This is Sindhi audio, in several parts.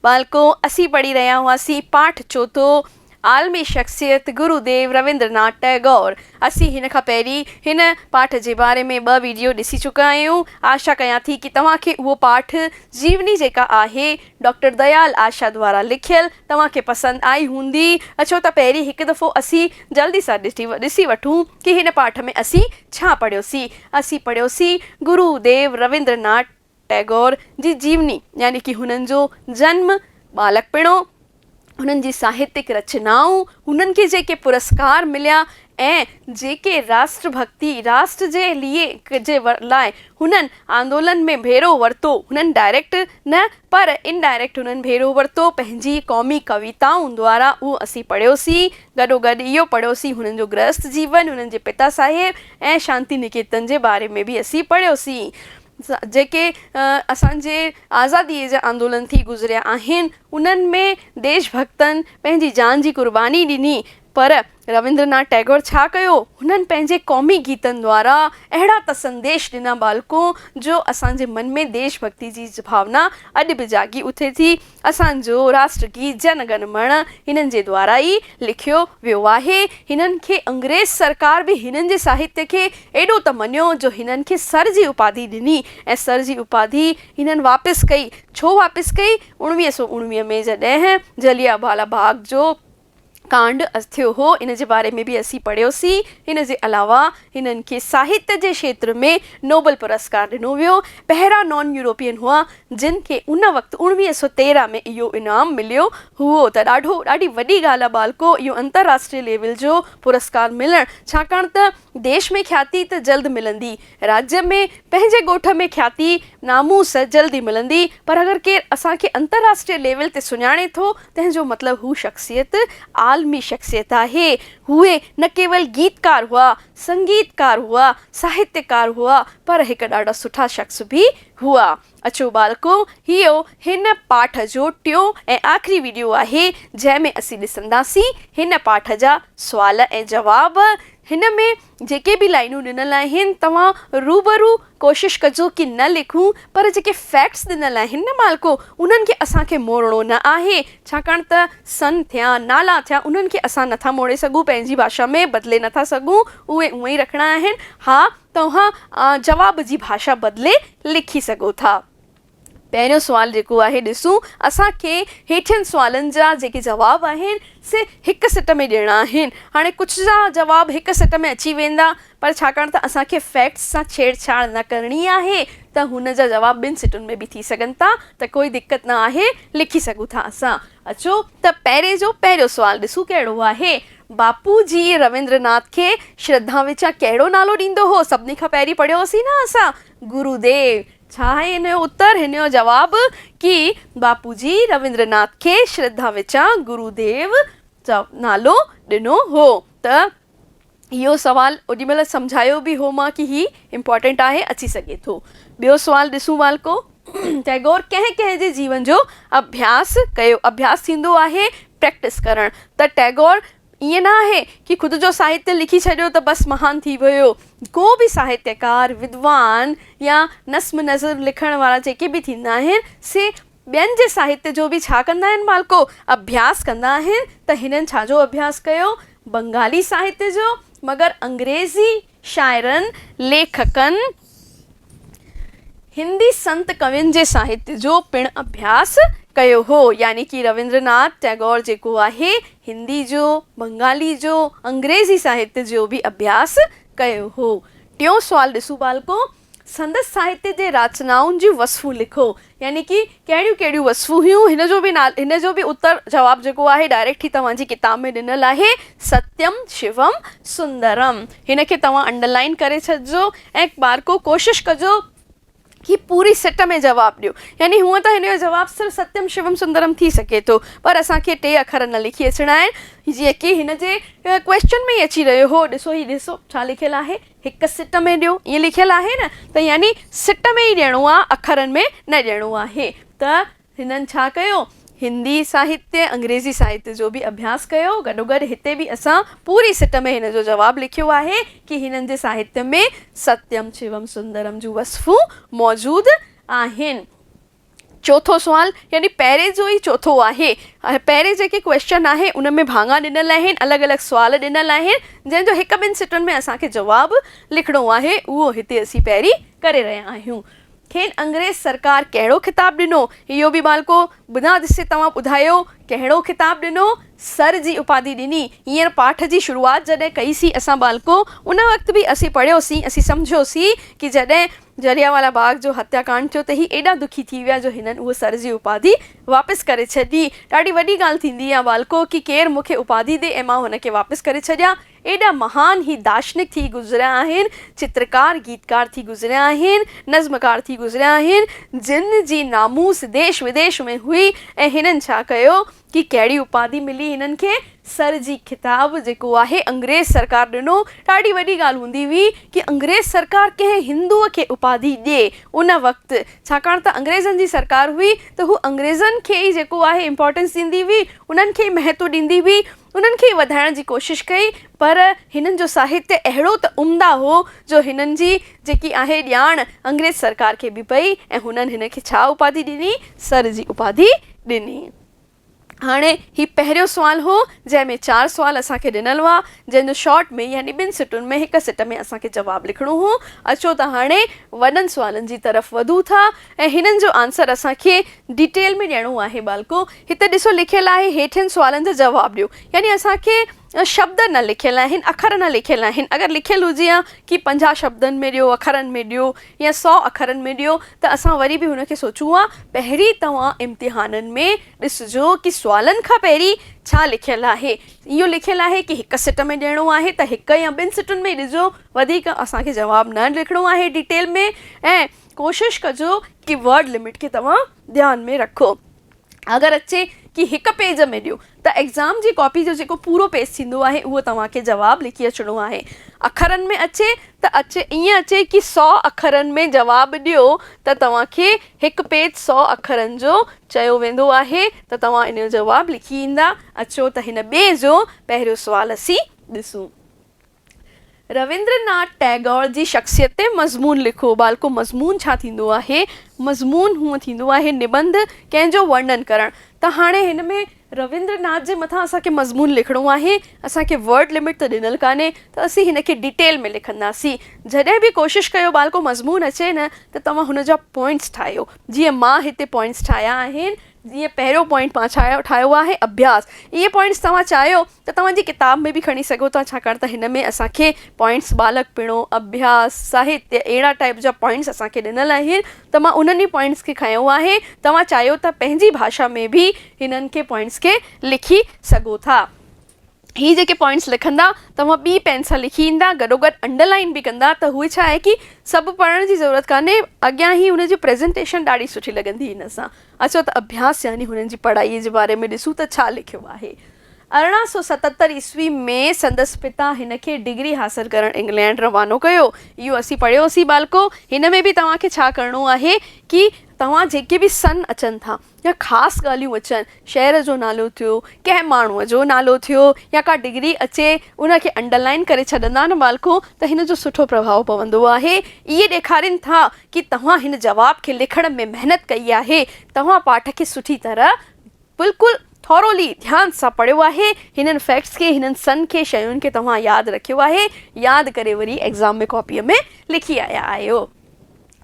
ٻالڪو، اسين پڙهي رهيا هئاسين پاٺ چوٿون، عالمي شخصيت گرو ديو رويندر ناٿ ٽئگور. اسين هن کان پهرين هن پاٺ جي باري ۾ ٻه ويڊيو ڏسي چڪا آهيون. آشا ڪيان ٿي ڪي توهان کي اهو پاٺ جيوني جيڪا آهي ڊاڪٽر ديال آشا دوارا لکيل توهان کي پسند آئي هوندي. اچو ته پهرين هڪ دفعو اسين جلدي سان ڏسي وٺون ڪي هن پاٺ ۾ اسين ڇا پڙهيوسين. اسين پڙهيوسين گرو ديو رويندر ناٿ ٽئگور جي جيوني يعني ڪي هنن جو جنم، ٻالڪپڻو، هنن جي ساهتڪ رچنائون، هنن کي جيڪي پرسڪار مليا ۽ جيڪي راشٽر ڀڳتي، راشٽر جي ليئي جي لاء هنن آندولن ۾ ڀيرو ورتو، هنن ڊائريڪٽ نه پر ان ڊائريڪٽ هنن ڀيرو ورتو، پنهنجي قومي ڪويتائون دوارا اهو اسين پڙهيوسين، گڏوگڏ اهو پڙهيوسين هنن جو گرهست جيون، هنن جي پتا صاحب ۽ شانتي نڪيتن جي باري ۾ به اسين پڙهيوسين. جيڪي اسان جي آزاديء جا آندولن ٿي گذريا آهن، انهن ۾ ديش ڀڳتن پنهنجي جان جي قرباني ڏني، پر رويندر ناٿ ٽئگور ڇا ڪيو؟ هنن پنهنجي قومي گيتن دوارا اهڙا ته سنديش ڏنا ٻالڪو، جو اسان جي من ۾ ديش ڀڳتي جي ڀاونا اڄ به جاڳي اٿي ٿي. اسان جو راشٽر گيت جن گن مڻ هنن جي دوارا ئي لکيو ويو آهي. هنن کي انگريز سرڪار به هنن جي ساهتيه کي ايڏو ته مڃيو جو هنن کي سر جي اپاڌي ڏني ۽ سر جي اپاڌي هنن واپس ڪئي. ڇو واپس ڪئي؟ اڻويهه سؤ اڻويهه ۾ جڏهن جليانوالا باغ جو ڪانڊ ٿيو هو، ان جي باري ۾ به اسين پڙهيوسين. ان جي علاوه هنن کي ساهت جي کيتر ۾ نوبل پرسڪار ڏنو ويو. پهريان نان يورپين هئا، جن کي ان وقت اوڻويهه سؤ تيرهن ۾ اهو انعام مليو هئو ته ڏاڍو ڏاڍي وڏي ڳالهه آهي ٻالڪو اهو انترراشٽري ليول جو پرسڪار ملڻ، ڇاڪاڻ ته ديش ۾ کياتي ته جلد ملندي، راڄ ۾ پنهنجي ڳوٺ ۾ کياتي، ناموس، جلدي ملندي پر اگر ڪير اسان کي انترراشٽري ليول تي سڃاڻي ٿو تنهن جو مطلب هو شخصيت عالمي شخصيت آهي. هو نه ڪيول گيتڪار هئا، سنگيتڪار هئا، ساهتيڪار هئا پر هڪ ڏاڍا سٺا شخص به هئا. اچو ٻالڪو، هيء هن پاٺ جو ٽيون ۽ آخري وڊيو آهي، جنهن ۾ اسين ڏسنداسين هن پاٺ جا سوال ۽ جواب. هن ۾ جيڪي به لائينون ڏنل آهن، توهان روبرو ڪوشش ڪجو ڪي نه لکون، پر جيڪي فيڪٽس ڏنل آهن نه ٻالڪو، انهن کي اسان کي موڙڻو نه آهي، ڇاڪاڻ ته سن ٿيا، نالا ٿيا، انهن کي اسان نٿا موڙي سگهون، پنهنجي ڀاشا ۾ بدلي نٿا سگهون، اهي اونئي رکڻا آهن. ها، توهان جواب جي ڀاشا بدلي لکي سگهو ٿا. پهريون سوال جيڪو آهي ڏسون اسان کي هيٺين سوالن جا جيڪي جواب آهن سي هڪ سٽ ۾ ڏيڻا آهن. هاڻي ڪجهه جا جواب هڪ سٽ ۾ اچي ويندا پر ڇاڪاڻ ته اسان کي فيڪٽس سان ڇيڙ ڇاڙ نه ڪرڻي آهي ته هن جا جواب ٻن سٽن ۾ به ٿي سگهن ٿا ته ڪوئي دقت نه آهي لکي سگهون ٿا اسان. اچو ته پهرين جو پهريون سوال ڏسون ڪهڙو آهي. باپو جي رويندر ناٿ کي شرڌا وچان ڪهڙو نالو ڏيندو هو؟ سڀني کان پهرين پڙهيو هوسين نه اسان گرو ديو. ڇا آهي هن جو اتر؟ هن جو جواب ڪي باپو جي رويندر ناٿ کي شرڌا وچان گرو ديو نالو ڏنو هو ته اهو سوال اوڏي مهل سمجهايو به هو مان ڪي هي امپارٽنٽ آهي اچي سگهي ٿو ٻيو سوال ڏسون والڪو ٽئگور ڪنهن ڪنهن جي جيون جو اڀياس ڪيو اڀياس ٿيندو آهي پريڪٽس ڪرڻ ته ٽئگور ائين نه آهي ڪي خود جو ساهتيه لکي ڇڏيو ته بس مهان ٿي ويو ڪو به ساهتيڪار ودوان يا نصم نظم لکڻ وارا جيڪي به ٿيندا آهن سي ٻين جي ساهتيه جو به ڇا ڪندا آهن مالڪو؟ اڀياس ڪندا آهن ته هنن ڇا جو اڀياس ڪيو؟ بنگالي ساهتيه جو، مگر انگريزي شاعرن، ليکڪن، هندي سنت ڪوين جي ساهتيه جو پڻ اڀياس ڪيو هو، يعني ڪي رويندر ناٿ ٽئگور جيڪو آهي، هندي جو، بنگالي جو، انگريزي ساهتيه جو به اڀياس ڪيو هو. ٽيون سوال ڏسون مالڪو، سندس ساهتيه جي راچنائن جون وصفون لکو يعني ڪي ڪهڙيون ڪهڙيون وصفون هيون هن جو به نالو هن جو به اتر جواب جيڪو آهي ڊائريڪٽ هي توهان جي ڪتاب ۾ ڏنل آهي ستيم شيوم سندرم هن کي توهان انڊرلائين ڪري ڇڏجو ۽ ڪبارڪو ڪوشش ڪجو ڪي پوري سٽ ۾ جواب ڏيو يعني هونء ته هن جو جواب صرف ستيم شيوم سندرم ٿي سگهي ٿو پر اسان کي ٽي اکر نه لکي اچڻا آهن جيئن ڪي هن جي ڪويسچن ۾ ئي اچي رهيو هو ڏسو هي ڏسو ڇا لکيل آهي. هڪ سٽ ۾ ڏيو ائين لکيل آهي نه ته يعني سٽ ۾ ئي ڏيڻو آهي اکرن ۾ نه ڏيڻو آهي ته هنن ڇا ڪيو هندي ساهتيه انگريزي ساهتيه جو به اڀياس ڪيو گڏوگڏ هتي به اسان پوري سٽ ۾ هن جو جواب لکيو آهي ڪي هنن جي ساهتيه ۾ ستيم شيوم سندرم جون وصفون موجود آهن. چوٿون سوال يعني پهرين جو ئي چوٿون آهي. پهرين جيڪي ڪويسچن آهي ان ۾ ڀاڱا ڏنل آهن الڳ الڳ سوال ڏنل آهن جنهن جو هڪ ٻن سٽن ۾ اسان کي جواب لکڻو آهي اهو هتي اسين پهرين ڪري رهيا آهيون. کين انگريز سرڪار ڪهڙو خطاب ڏنو اهو به مالڪو بنا ڏسي توهان ٻڌايو ڪهڙو خطاب ڏنو سر جي اپاڌي ڏني هينئر پاٺ جي شروعات جڏهن ڪئي سين اسان ٻالڪو ان وقت به اسين پڙهيو سين اسين سمجهيو سين ڪي جڏهن جليانوالا باغ جو هتيا ڪانڊ ٿيو ته هي ايڏا دکي ٿي ويا جو هنن اهو سر جي اپاڌي واپس ڪري ڇڏي. ڏاڍي وڏي ڳالهه ٿيندي يا والڪو ڪي ڪير مون کي اپاڌي ڏي ۽ مان هن کي واپس ڪري ڇڏيان. ايڏا مهان هي داشنڪ ٿي گذريا آهن، چترڪار، گيتڪار ٿي گذريا آهن، نظمڪار ٿي گذريا آهن، جن جي ناموس ديش وديش ۾ هئي ۽ هنن ڇا ڪيو؟ ڪي ڪهڙي اپاڌي ملي هنن کي؟ سر جي خطاب جيڪو آهي انگريز سرڪار ڏنو. ڏاڍي وڏي ڳالهه هوندي هئي ڪي انگريز سرڪار ڪنهن هندوء کي اپاڌي ڏئي ان وقت ڇاڪاڻ ته انگريزن جي سرڪار هئي ته هو انگريزن کي ئي جيڪو آهي امپارٽنس ڏيندي هئي انهن کي ئي مهتو ڏيندي هئي انهن کي ئي وڌائڻ جي ڪوشش ڪئي پر هنن جو ساهتيه اهڙو ته عمدا هو جو هنن جي جيڪي آهي ڄاڻ انگريز سرڪار کي به پئي ۽ هنن هن کي ڇا اپاڌي ڏني؟ سر جي اپاڌي ڏني. هاڻي هي پهريون سوال هو جنهن ۾ چار سوال اسان کي ڏنل هئا جنهن جو شارٽ ۾ يعني ٻن سٽن ۾ هڪ سٽ ۾ اسان کي جواب لکڻو هو. اچو ته هاڻي وڏن سوالن جي طرف وڌون ٿا ۽ هنن جو آنسر اسان کي ڊيٽيل ۾ ڏيڻو آهي ٻالڪو هت ڏسو لکيل آهي هيٺين سوالن جا جواب ڏيو يعني اسان کي شبد نه لکيل آهن، اکر نه لکيل آهن، اگر لکيل هجي ها ڪي پنجاهه شبدن ۾ ڏيو، اکرن ۾ ڏيو يا سؤ اکرن ۾ ڏيو ته اسان وري به ان کي سوچون ها، پهرين توهان امتحانن ۾ ڏسجو ڪي سوالن کان پهرين ڇا لکيل آهي، اهو لکيل آهي ڪي هڪ سٽ ۾ ڏيڻو آهي ته هڪ يا ٻن سٽن ۾ ئي ڏسجو، وڌيڪ اسان کي جواب نه لکڻو آهي ڊيٽيل ۾ ۽ ڪوشش ڪجو ڪي ورڊ لمٽ کي توهان ڌيان ۾ رکو. اگر اچي ڪي هڪ پيج ۾ ڏيو ته ايگزام جي ڪاپي جو جيڪو پورو پيج ٿيندو آهي اهو توهان کي جواب لکي اچڻو آهي اکرن ۾ اچي ته اچي ائين اچي ڪي سؤ اکرن ۾ جواب ڏيو ته توهان کي هڪ پيج سؤ اکرن جو چيو ويندو آهي ته توهان ان جو جواب لکي ايندا اچو ته هن ٻئي جو پهريون سوال اسين ڏسون. رويندر ناٿ ٽئگور جي شخصيت تي مضمون لکو. ٻالڪو مضمون ڇا ٿيندو آهي؟ مضمون هونء ٿيندو آهي نبنڌ، ڪنهن جو ورنن ڪرڻ. ته هاڻي هن ۾ رويندر ناٿ جي مٿان اسان کي مضمون لکڻو آهي. اسان کي ورڊ لمٽ ته ڏنل ڪانهي ته اسين هن کي ڊيٽيل ۾ لکنداسين. جڏهن به ڪوشش ڪيو ٻالڪو مضمون اچي نه ته توهان هن جا پوائنٽس ٺاهيو. جيئن مان هتي پوائنٽس ٺاهيا آهن. جيئن پهريون پوائنٽ مان ڇا ٺاهيو آهي اڀياس اهي پوائنٽس توهان چاهيو ته توهان جي ڪتاب ۾ به کڻي سگهو ٿا ڇاڪاڻ ته هن ۾ اسان کي پوائنٽس ٻالڪپڻو اڀياس ساهتيه اهڙا ٽائيپ جا پوائنٽس اسان کي ڏنل آهن ته مان انهن ئي پوائنٽس کي کنيو آهي توهان چاهيو ته پنهنجي ڀاشا ۾ به هنن کي پوائنٽس کي لکي سگهو ٿا هي جيڪي پوائنٽس لکندا توهان ٻي پين سان لکي ايندا گڏو گڏ انڊر لائين به ڪندا ته هو ڇا آهي ڪي سڀ پڙهڻ جي ضرورت ڪانهي اڳيان هي هن جي پريزنٽيشن ڏاڍي سٺي لڳندي هن سان اچو ته اڀياس يعني هنن جي پڙهائي جي باري ۾ ڏسون ته ڇا لکيو آهي ارڙهن سؤ ستتر عيسوي ۾ سندس پتا هن کي ڊگري حاصل ڪرڻ انگلينڊ روانو ڪيو اهو اسين پڙهيوسين ٻالڪو هن ۾ به توهان کي ڇا ڪرڻو آهي ڪي توهان جيڪي به سن اچن ٿا يا خاص ڳالهيون اچن، شهر جو نالو ٿيو، ڪنهن ماڻهوء جو نالو ٿيو يا ڪا ڊگري اچي ان کي انڊر لائين ڪري ڇڏندا نه مالڪو ته هن جو سٺو پرڀاء پوندو آهي. اهي ڏيکارين ٿا ڪي توهان هن جواب کي لکڻ ۾ محنت ڪئي آهي، توهان پاٺ کي سٺي طرح، بلڪل Thoroughly، ڌيان سان پڙهيو آهي، هنن فيڪٽس کي، هنن سن کي، شين کي توهان ياد رکيو آهي، ياد ڪري وري ايگزام ۾ ڪاپيء ۾ لکي آيا آهيو.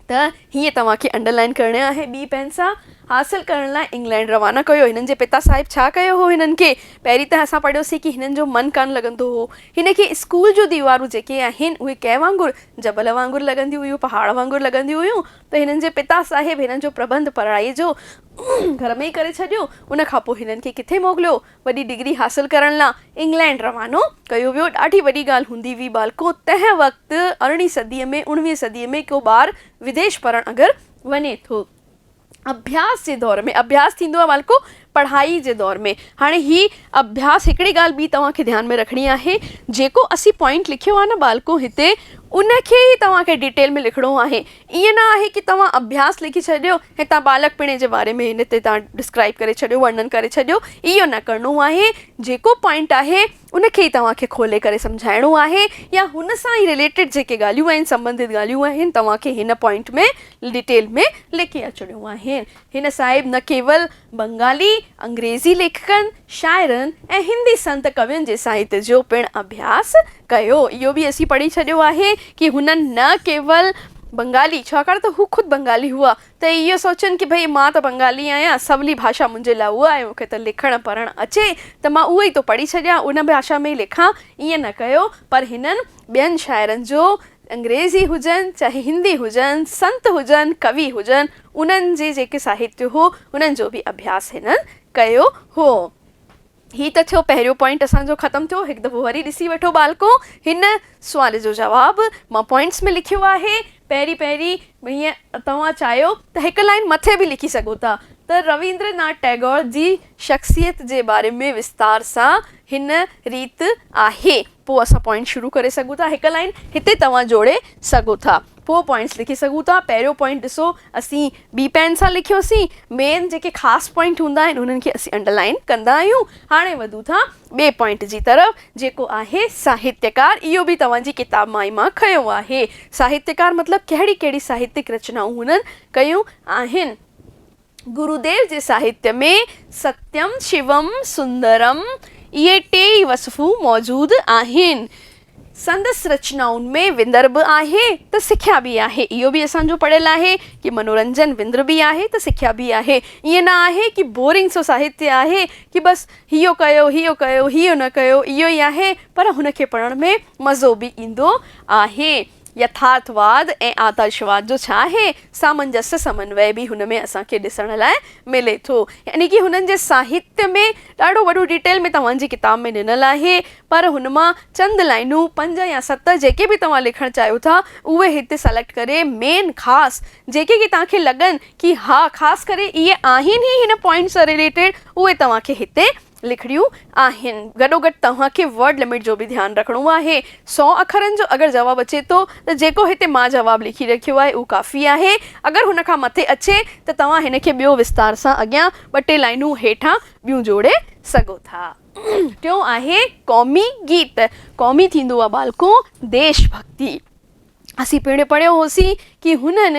ته هيء توهان کي انڊر لائين ڪرڻي آهي. ٻي پئنسا حاصل ڪرڻ لاء انگلينڊ روانا ڪيو. هنن جي پتا صاحب ڇا ڪيو هو هنن کي؟ پهرين ته اسان پڙهيوسين ڪي هنن جو من ڪانه لڳندو هو. هن کي اسڪول جون ديوارون جيڪي آهن اهي ڪنهن وانگر جبل وانگر لڳنديون هيون پهاڙ وانگر لڳنديون هيون ته هنن جي پتا صاحب هنن جو پرٻنڌ پڙهائي جو گهر ۾ ئي ڪري ڇڏيو. ان کان پوء هنن کي ڪٿي موڪليو. وڏي ڊگري حاصل ڪرڻ لا انگلينڊ روانو ڪيو ويو. ڏاڍي وڏي ڳالهه هوندي هئي ٻالڪو تنهن وقت ارڙهين صدي ۾ اڻويهين صدي ۾ ڪو ٻار وديش پڙهڻ اگر وڃي ٿو اڀياس جي دور ۾ اڀياس ٿيندو آهي ٻالڪو پڙهائي جي دور ۾ هاڻي هي اڀياس هڪڙي ڳالهه ٻي توهان کي ڌيان ۾ رکڻي آهي جيڪو اسين پوائنٽ لکيو آهي نه ٻالڪو هتي ان کي ئي توهان کي ڊيٽيل ۾ لکڻو آهي ائين نه آهي ڪي توهان اڀياس لکي ڇڏيو هتان ٻالڪ پڻي جي باري ۾ هن تي توهان ڊسڪرائيب ڪري ڇڏيو ورنن ڪري ڇڏيو اهو نه ڪرڻو آهي جيڪو پوائنٽ آهي ان کي ئي توهان کي کولي ڪري سمجهائڻو آهي يا هن سان ئي رليٽيڊ جيڪي ڳالهيون آهن سمبنڌت ڳالهيون آهن توهان کي هن پوائنٽ ۾ ڊيٽيل ۾ لکي اچڻيون آهن هن صاحب نه ڪيول بنگالي، انگريزي ليکڪن، شاعرن ۽ هندي سنت ڪوين جي ساهت جو پڻ اڀياس ڪيو. اهو به اسين پڙهي ڇڏيو آهي ڪي هنن نه ڪيول بنگالي، ڇاڪاڻ ته هو خود بنگالي هئا، ته اهو سوچين ڪي ڀئي مان ته بنگالي آهيان، سولي ڀاشا منهنجي لاء اها آهي، مون کي ته لکڻ پڙهڻ اچي ته مان اهو ئي ٿو پڙهي ڇڏيان، ان ڀاشا ۾ ئي لکان، ائين نه ڪيو، پر هنن ٻين شاعرن جو، انگريزي هجن، چاهي هندي هجن، سنت هجن، ڪوي هجن، انهن جي جيڪي ساهتيه هو انهن جو به اڀياس هنن ڪيو هو. هي ته ٿيو پهريون پوائنٽ اسان جو ختم ٿيو هڪ دفعو وري ڏسي وٺو ٻالڪو هن سوال جو جواب مان پوائنٽس ۾ لکيو آهي پهرين پهرين هيئن توهان چاهيو ته هڪ لائين مٿي به لکي سگهو ٿا ته رويندر ناٿ ٽئگور جي شخصيت جي باري ۾ وستار سان هن ريت آهي پوء اسان پوائنٽ شروع ڪري سگهون ٿا هڪ لائين هتي توهان جوڙي سگهو ٿا پوء پوائنٽس لکي سگهون ٿا. پهريون پوائنٽ ڏسو اسين ٻي پين سان لکيوسين. مين جيڪي خاص پوائنٽ هوندا آهن انهن کي اسين انڊرلائين ڪندا آهيون. هاڻي وڌون ٿا ٻئي پوائنٽ جي طرف جيڪو آهي ساهتيڪار. اهو به توهان جي ڪتاب مان ئي مان کنيو آهي. ساهتيڪار مطلب ڪهڙي ڪهڙي ساهتيڪ رچنائون هنن ڪيون آهن. گروديو جي ساهتيه ۾ ستيم، شيوم، سندرم اهي ٽي ئي وصفون موجود آهن. سندس رچنائن ۾ وندر به آهي ته سکيا به آهي. اهو به اسان جو پڙهيل آهي ڪي منورنجن وندر به آهي ته سکيا به آهي. ائين نه آهي ڪي بورنگ سو ساهتيه آهي ڪي بس هيو ڪيو هيو ڪيو هيو نه ڪيو اهو ئي آهي پر هن کي پڙهڻ ۾ مزو به ايندو آهي. يٿارٿواد ۽ آدرشواد جو ڇا آهي، سامنجسه سمنوي به هن ۾ اسان کي ڏسڻ لاء ملي ٿو. يعني ڪي هنن جي ساهتيه ۾ ڏاڍو وڏو ڊيٽيل ۾ توهان جي ڪتاب ۾ ڏنل آهي، پر هن مان چند لائنون، پنج يا ست جيڪي به توهان لکڻ چاهيو ٿا، اهي هتي سليڪٽ ڪري مين، خاص، جيڪي ڪي توهان کي لڳن ڪي ها خاص ڪري اهي آهن ئي هن پوائنٽ سان رليٽيڊ، اهي توهان کي هتي لکڻيون آهن. گڏوگڏ توهان کي ورڊ لمٽ جو به ڌيان رکڻو آهي. سؤ اکرن جو اگر جواب اچي ٿو ته جيڪو هتي مان جواب لکي رکيو آهي اهو ڪافي آهي. اگر هن کان مٿي اچي ته توهان هن کي ٻيو وستار سان اڳيان ٻه ٽي لائينون هيٺان ٻيون جوڙي سگهو ٿا. ٽيون آهي قومي گيت. قومي ٿيندو آهي ٻالڪو ديش ڀڳتي. اسين پڻ پڙهيو هوسين ڪي هنن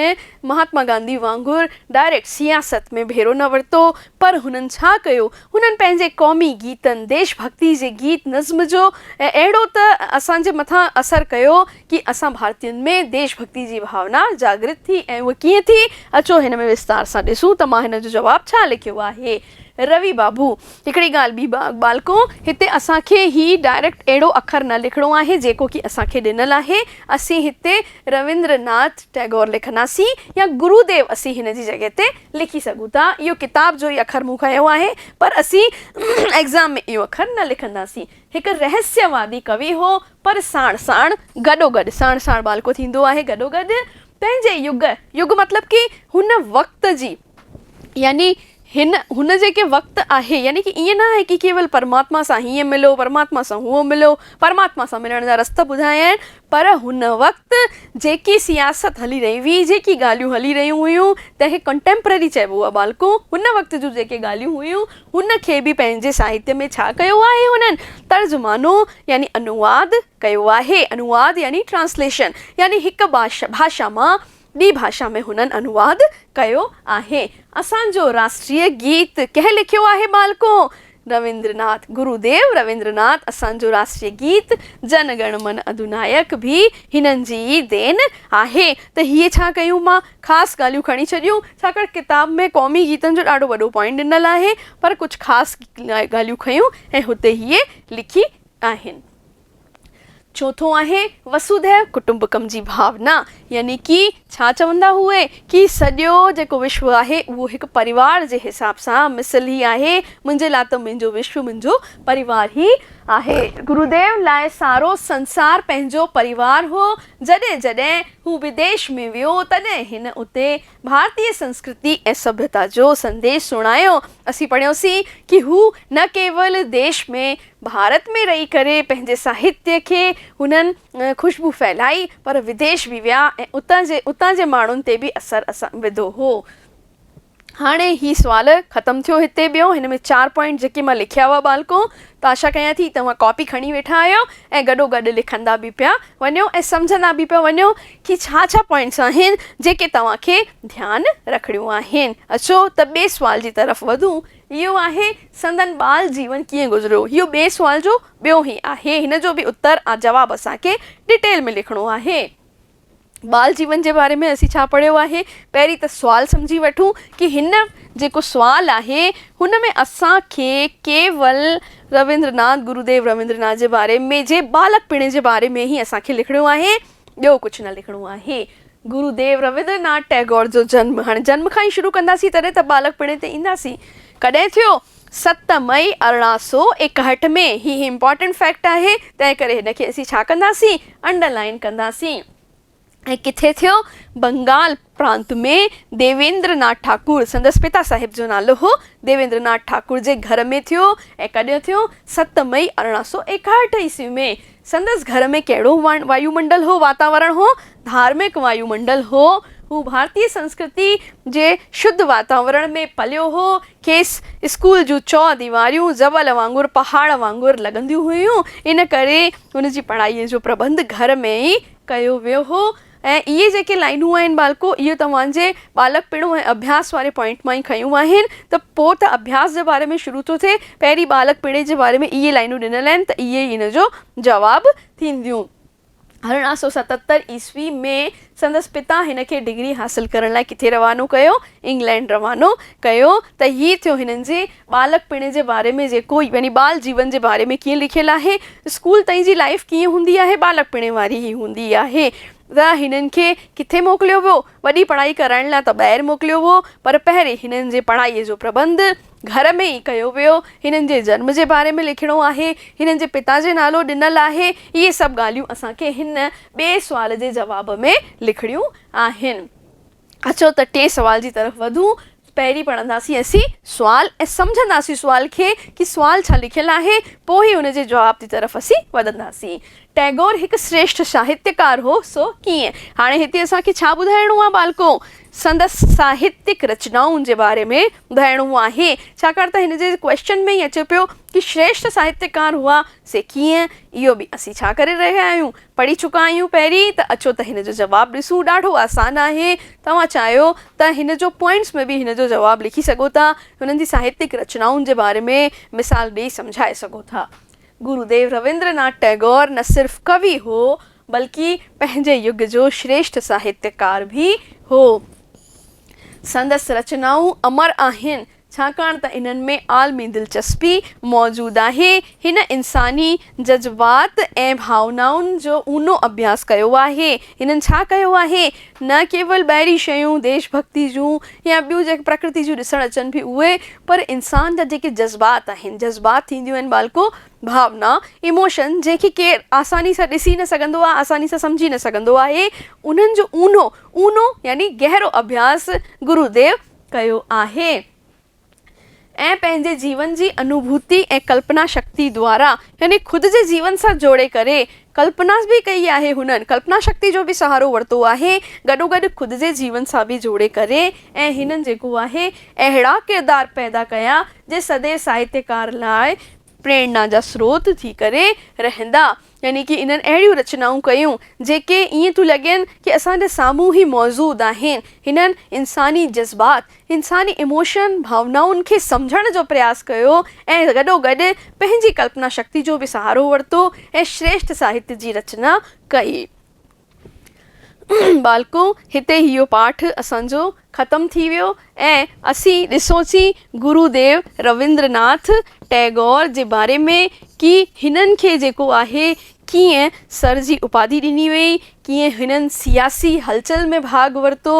مهاتما گانڌي وانگر ڊائريڪٽ سياست ۾ ڀيرو نه ورتو پر هنن ڇا ڪيو هنن پنهنجي قومي گيتن ديش ڀڳتي جي گيت نظم جو اهڙو ته اسان جي مٿان اثر ڪيو ڪي اسان ڀارتين ۾ ديش ڀڳتي جي ڀاونا جاگرت ٿي ۽ اهو ڪيئن ٿي اچو هن ۾ وستار سان ڏسون ته مان هن جو جواب ڇا لکيو آهي. روي بابو، هڪڙي ڳالهه ٻي به ٻالڪو، هتي اسان کي هي ڊائريڪٽ اهڙو اکر نه لکڻو آهي جيڪو ڪي اسان کي ڏنل آهي، اسين هتي رويندر ناٿ ٽئگور لکنداسين يا گرو ديو اسين هن جي جڳهه تي لکي سگهون ٿا، اهو ڪتاب جو ئي اکر مون کنيو آهي، پر اسين ايگزام ۾ اهو اکر نه لکنداسين. هڪ رهسيه وادي ڪوي هو، پر ساڻ ساڻ، گڏو گڏ، ساڻ ساڻ ٻالڪو ٿيندو آهي، گڏو گڏ پنهنجي يگ، يگ مطلب ڪي هن وقت جي، يعني هن هن جيڪي وقت آهي يعني ڪي ائين نه آهي ڪي ڪيول پرماتما سان هيئن ملو پرماتما سان هونئن ملو پرماتما سان ملڻ جا رستا ٻڌايائين پر هن وقت جيڪي سياست هلي رهي هئي جيڪي ڳالهيون هلي رهيون هيون تنهن کي ڪنٽيمپرري چئبو آهي ٻالڪو هن وقت جون جيڪي ڳالهيون هيون هن کي به پنهنجي ساهتيه ۾ ڇا ڪيو آهي هنن ترجمانو يعني انواد ڪيو آهي انواد يعني ٽرانسليشن يعني هڪ باشا ڀاشا مان ٻي ڀاشا ۾ هنن انواد ڪيو آهي. اسان جو راشٽريه گيت ڪنهن لکيو آهي ٻالڪو؟ رويندرناٿ، گرو ديو رويندرناٿ اسان جو راشٽريه گيت جن گڻ من اڌونائڪ به هنن جي ئي دين آهي. ته هيء ڇا ڪيون مان خاص ڳالهيون کڻي ڇڏيون، ڇاڪاڻ ڪتاب ۾ قومي گيتن جو ڏاڍو وڏو پوائنٽ ڏنل آهي، پر ڪجهه خاص ڳالهيون کنيون ۽ هتي هيء لکي آهن. چوٿون آهي وسوڌيو ڪٽمبڪم جي ڀاونا يعني ڪي ڇا چوندا هئي ڪي سڄو جيڪو وشو آهي اهو هڪ پريوار جي حساب سان مثل هي آهي منهنجي لاء ته منهنجو وشو منهنجو پريوار هي آهي. گروديو لاء سارو سنسار پنهنجو پريوار هو جڏهن جڏهن هو بديش ۾ ويو تڏهن هن اتي ڀارتي سنسڪرتي ۽ سڀيتا جو سنديش سڻايو اسين پڙهيوسين ڪي هو نه ڪيول ديش ۾ ڀارت ۾ رهي ڪري پنهنجي ساهتي کي هنن خوشبو ڦهلائي پر وديش به ويا ۽ اتان جي اتان جي ماڻهن تي به اثر وڌو هو. هاڻي هي سوال ختم ٿيو هتي ٻيو هن ۾ چار پوائنٽ جيڪي مان لکيا هئا ٻالڪو ته آشا ڪيان ٿي توهان ڪاپي کڻي ويٺا آهيو ۽ گڏو گڏ لکندا به پيا وڃو ۽ سمجهندا به پيا وڃو ڪي ڇا ڇا پوائنٽس آهن جيڪي توهان کي ڌيان رکڻيون آهن اچو ته ٻي سوال جي طرف وڌون اهو آهي، سندن ٻال جيون ڪيئن گذريو؟ اهو ٻئي سوال جو ٻيو هي آهي. هن جو به اتر ۽ جواب اسان کي ڊيٽيل ۾ لکڻو آهي. ٻال جيون جي باري ۾ اسين ڇا پڙهيو آهي؟ پهرين ته سوال سمجهي وٺون ڪي هن جيڪو سوال آهي هن ۾ اسان کي ڪيول رويندرناٿ، گروديو رويندرناٿ جي باري ۾، جي ٻالڪپڻي جي باري ۾ هي اسان کي لکڻو آهي. ٻيو ڪجهه نه لکڻو آهي. گرو ديو رويندر ناٿ ٽئگور جو جنم، هاڻي جنم کان ئي شروع ڪنداسين تڏهن ته ٻالڪپڻي تي اينداسين، ڪڏهن ٿيو؟ ست مئي ارڙهن سؤ ايڪاهٺ ۾ هي امپارٽنٽ فيڪٽ آهي تنهن ڪري هن کي اسين ڇا ڪنداسين انڊرلائين ڪنداسين ۽ ڪٿي ٿيو بنگال پرانت ۾ ديويندر ناٿ ٺاڪر، سندس پتا صاحب جو نالو هو، ديويندر ناٿ ٺاڪر جي گهر ۾ ٿيو ۽ ڪڏهن ٿيو؟ ست مئي ارڙهن سؤ ايڪاهٺ عيسوي ۾. سندس گهر ۾ ڪهڙو وايو منڊل هو، واتاورڻ هو؟ ڌارمڪ وايو منڊل هو. هو ڀارتي سنسڪرتي جي شڌ واتاورڻ ۾ پليو هو. کيس اسڪول جون چؤ ديواريون زبل وانگر، پهاڙ وانگر لڳنديون هيون، ان ڪري هن جي پڙهائيء جو پرٻنڌ گهر ۾ ئي ڪيو ويو هو. ۽ اهي جيڪي لائنون آهن ٻالڪو اهي توهان جي ٻالڪپڻو ۽ اڀياس واري پوائنٽ مان ئي کنيون آهن ته پوء ته اڀياس جي باري ۾ شروع ٿو ٿئي پهرين ٻالڪپڻي جي باري ۾ اهي لائنون ڏنل آهن ته اهي ئي ان جو جواب ٿينديون. ارڙهن سؤ ستتر عيسوي ۾ سندس پتا هن کي ڊگري حاصل ڪرڻ لاء ڪٿي روانو ڪيو؟ انگلينڊ روانو ڪيو ته هي ٿيو هنن جي ٻالڪ پڻ جي باري ۾ جيڪو يعني ٻال جيون جي باري ۾ ڪيئن لکيل آهي اسڪول تائين جي لائيف ڪيئن هوندي آهي ٻالڪ پڻ واري ئي هوندي آهي ته هنن کي ڪٿي موڪليو ويو وڏي پڙهائي ڪرائڻ لاء ته ٻاهر موڪليو هو پر پهرين هنن جي پڙهائي جو پرٻنڌ گهر ۾ ئي ڪيو ويو هنن جي جنم جي باري ۾ لکڻو آهي هنن جي پتا جي نالو ڏنل آهي اهي سڀ ڳالهيون اسان کي هن ٻئي سوال جي جواب ۾ لکڻيون آهن اچو ته ٽئين سوال جي طرف وڌون. پهرين پڙهنداسين اسين سوال ۽ سمجهنداسين سوال کي ڪي سوال ڇا لکيل آهي پوء ئي ان جي جواب جي طرف اسين وڌنداسين. ٽئگور هڪ سريشٺ ساهتيڪار هو سو ڪيئن؟ هاڻي هتي اسان کي ڇا ٻڌائڻو آهي ٻالڪو؟ سندس ساهتيڪ رچنائن جي باري ۾ ٻڌائڻو آهي ڇاڪاڻ ته هن جي ڪويشچن ۾ ئي اچي پيو ڪي سريشٺ ساهتيڪار هئا سي ڪيئن؟ اهو به اسين ڇا ڪري رهيا آهيون پڙهي چڪا آهيون پهرين ته اچو ته هن جو جواب ڏسون ڏاڍو آسان آهي توهان چاهيو ته هن جو پوائنٽس ۾ به هن جو جواب لکي سگهو ٿا هنن جي ساهتيڪ رچنائن جي باري ۾ مثال ڏئي سمجهائي سگهو ٿا گروديو رويندر ناٿ ٽئگور نه صرف ڪوي هو بلڪ پنهنجي يگ جو شريشٺ ساهتيڪار به هو سندس رچنائون امر آهن ڇاڪاڻ ته انهن ۾ عالمي دلچسپي موجود آهي. هن انساني جذبات ۽ ڀاونائن جو اونو اڀياس ڪيو آهي. هنن ڇا ڪيو آهي؟ نه ڪيول ٻاهرين شيون، ديش ڀڳتي جون يا ٻيون جيڪي پرڪرتي جون ڏسڻ اچن به اهي، پر انسان جا جيڪي جذبات آهن، جذبات ٿينديون آهن ٻالڪو، ڀاونا، Emotion، جنهن کي ڪير آساني سان ڏسي نه سگهندو آهي، آساني سان سمجهي نه سگهندو آهي، انهن جو اونو، اونو يعني گهرو اڀياس گرو ديو ڪيو آهي ۽ پنهنجي جيون جي انوڀوتي ۽ ڪلپنا شڪتي دوارا يعني خود جي جيون سان جوڙي ڪري ڪلپناس به ڪئي آهي هنن ڪلپنا شڪتي جو به سهارو ورتو آهي گڏوگڏ خود جي جيون سان به جوڙي ڪري ۽ هنن جيڪو آهي اهڙا ڪردار پيدا ڪيا جي سڄي ساهتيڪار لاء پريرنا جا سروت ٿي ڪري رهندا. يعني ڪي انهن اهڙيون رچنائون ڪيون، جيڪي ائين ٿيون لڳين ڪي اسان جي سامهون ئي موجود آهن. هنن انساني جذبات، انساني ايموشن، ڀاونائن کي سمجهڻ جو پرياس ڪيو ۽ گڏو گڏ پنهنجي ڪلپنا شڪتي جو به سهارو ورتو ۽ شريشٺ ساهت جي رچنا ڪئي. ٻالڪو هتي اهو پاٺ اسان جو ختم ٿي ويو ۽ اسين ڏسوسين گرو ديو رويندر ناٿ ٽئگور جي باري ۾ ڪي هنن کي جيڪو آهي ڪيئن سر جي اپاڌي ڏني وئي ڪيئن هنن سياسي هلچل ۾ ڀاڳ ورتو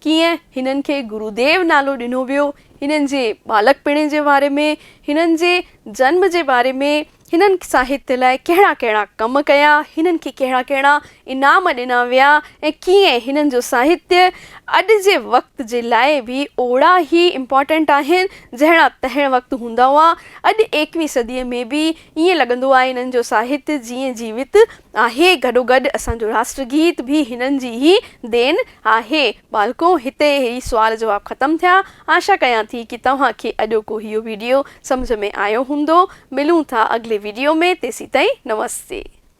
ڪيئن هنن کي گرو ديو نالو ڏنو ويو هنن جي ٻالڪپڻي جي باري ۾ هنن جي جنم جي باري ۾ هنن ساهتيه لاء ڪهڙا ڪهڙا ڪم ڪيا، هنن کي ڪهڙا ڪهڙا انعام ڏنا ويا ۽ ڪيئن هنن جو ساهتيه اڄ جي وقت جي لاء به اوڙا ئي امپارٽنٽ آهن جهڙا تنهن وقت هوندا هئا. اڄ ايڪويهين صديء ۾ به ائين لڳندو آهي هنن جو ساهتيه جيئن جيوت آهي. گڏوگڏ اسان جو راشٽر گيت به هنن جي ئي دين آهي. ٻالڪو هتي هي سوال جواب ختم ٿيا. آشا ڪيان ٿي ڪي توهان کي اڄوڪو هيو ويڊيو سمجهه ۾ آيو هوندو. ملون ٿا اڳلي ويڊيو ۾ تيسين تائين نمستي.